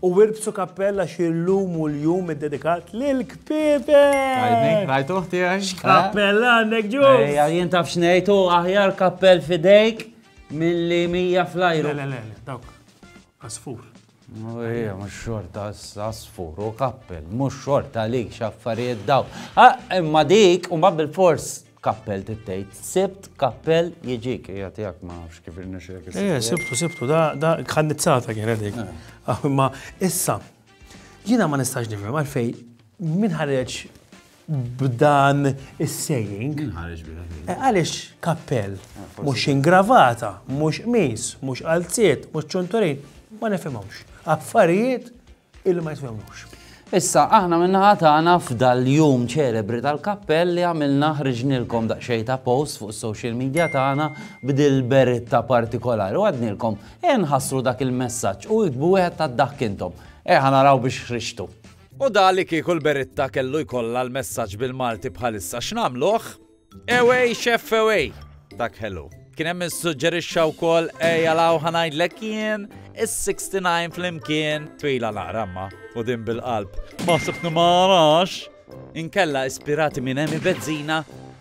U wirbsu kappella xi llum u l-jum iddedikat lil kpiebek! Tajni, rajt uħti għaj? X'kappella għandek ġu? Ejja, jien taf xnejt u aħjar kappell fidejk mill-li mija flajru. Le, le, le, dawk, asfur. Ejja, mux xorta asfur u kappell, mux xorta li xaffariet daw. Ah, imma dik, u ma bil-fors, Kappell tittejt. Sibt kappell jiġik. Ija tijak ma nafx kif irnexek. Ija, sibtu, sibtu, da, da, kħannizzata kienet dik. Eh. Ah, ma issa, jina ma nistax nifhem għalfej min ħareġ b'dan is-saying. Min ħareġ eh, Għaliex kappell, eh, mhux ingravata, mhux qmis, mhux qalziet, mhux ċunturin, ma nifhimhomx. Affarijiet Illi ma jitwemmux. Issa, aħna minnaħa tagħna f'dal-jum ċelebri tal-kappell li għamilna ħriġnilkom daqsxejn ta' post fuq social media tagħna b'dil beritta partikolari u għadnilkom e nħassru dak il-messaġġ u iktbu wieħed ta' dak intom. E naraw biex ħriġtu. U da li kieku l-beritta kellu jkollha l-messaġġ bil-Malti bħalissa x'nagħmluh? Ewej xef ewej, dak ħelu. Kien hemm issuġġerixxa wkoll ejja law ħanajdlek jien is-69 flimkien twila naqra ma u din bil-qalb. Ma sibni ma narax. Inkella ispirati minn Emi Bezzina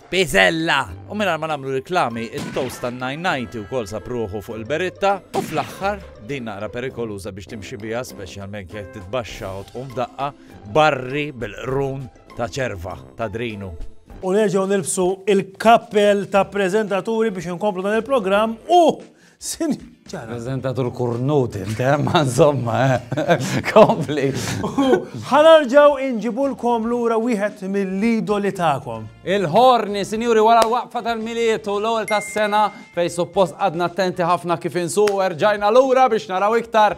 Pizzella! U minn ma namlu reklami, il-toast tan 990 u kol sapruħu fuq il-beritta u fl-axħar din naqra perikoluza biex timxi bija, specialment jek titbaxxa u tqum daqqa, barri bil-qrun ta' ċerva ta' drinu. U nerġgħu nilbsu il-kappell ta' preżentaturi biex inkomplu dan il-programm u sin Prezentatur kurnut, intem, eh, insomma, eh. kompli. Ħanarġaw inġibulkom lura wieħed mill-idoli ta'kom. Il-ħorni, sinjuri, wara l-waqfa tal-miliet u l-ewwel tas-sena fej suppost għadna attenti ħafna kif insu erġajna lura biex naraw iktar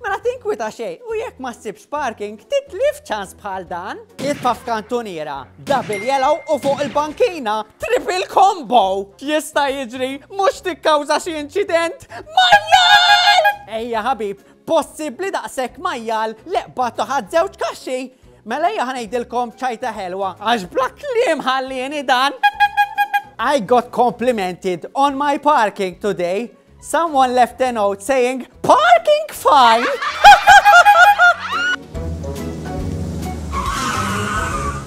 Mela tinkwita xejn u jekk ma ssibx parking titlif ċans bħal dan. Itfa' f'kantuniera, double yellow u fuq il-bankina triple combo. Jista' jiġri mhux tikkawża xi inċident majjal! Ejja ħabib, possibbli daqshekk majjal li qbad toħad żewġ kaxxi. Mela ejja ħanejdilkom ċajta ħelwa għax bla kliem ħallieni dan. I got complimented on my parking today. Someone left a note saying parking fine!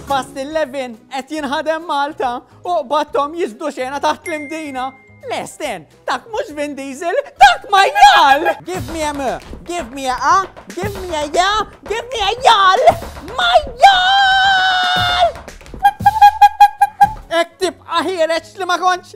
Past 11 qed jinħadem Malta u qbattom jiżdu xena taħt l-imdina. Lesten, dak mhux Vin Diesel, dak ma jgħal! Give me a m, give me a a, give me a ja, give me a jgħal! Ma jgħal! Ek tibqa ħireċ li ma konċ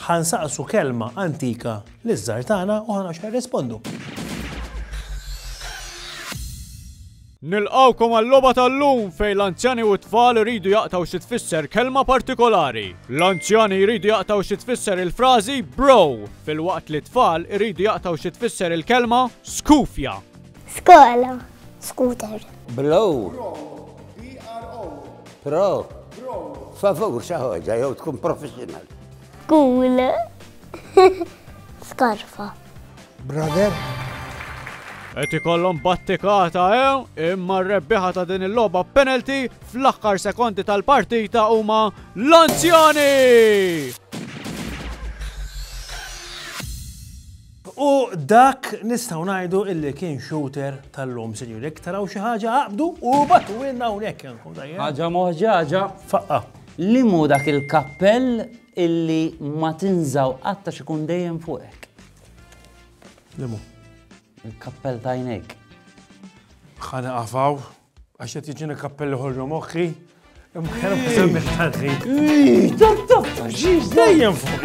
Ħa nsaqsu kelma antika liż-żgħar tagħna u ħa naraw x'ħa jirrispondu. Nilqgħukom għal-logħba tal-lum fejn l-anzjani u t-tfal iridu jaqtaw xi tfisser kelma partikolari. L-anzjani jridu jaqtaw xi tfisser il-frażi bro, filwaqt li t-tfal iridu jaqtaw xi tfisser il-kelma skufja. Skola. Scooter. Blow. Pro. Favur xi ħaġa jew tkun professional. Cool. Skarfa. Brother. Qed ikollhom battikata hemm eh? imma r-rebbieħa ta' din il-logħba penalty fl-aħħar sekondi tal-partita huma l-anzjani! U dak nistgħu ngħidu illi kien shooter tal-lum, sinjuri. Jekk taraw xi ħaġa aqbdu u batu ilna hawnhekk. Ħaġa moħġaġa. Faqqa. Li mu dak il-kappell illi ma tinżaw qatta xikun dejjem fuqek. Li mu? Il-kappell tajnek. Ħana qafaw, għax qed jiġini kappelli ħollu moħħi. Imma ħelmu semmi tal-ħin. Ii, tab tab, ġiġ dejjem fuq,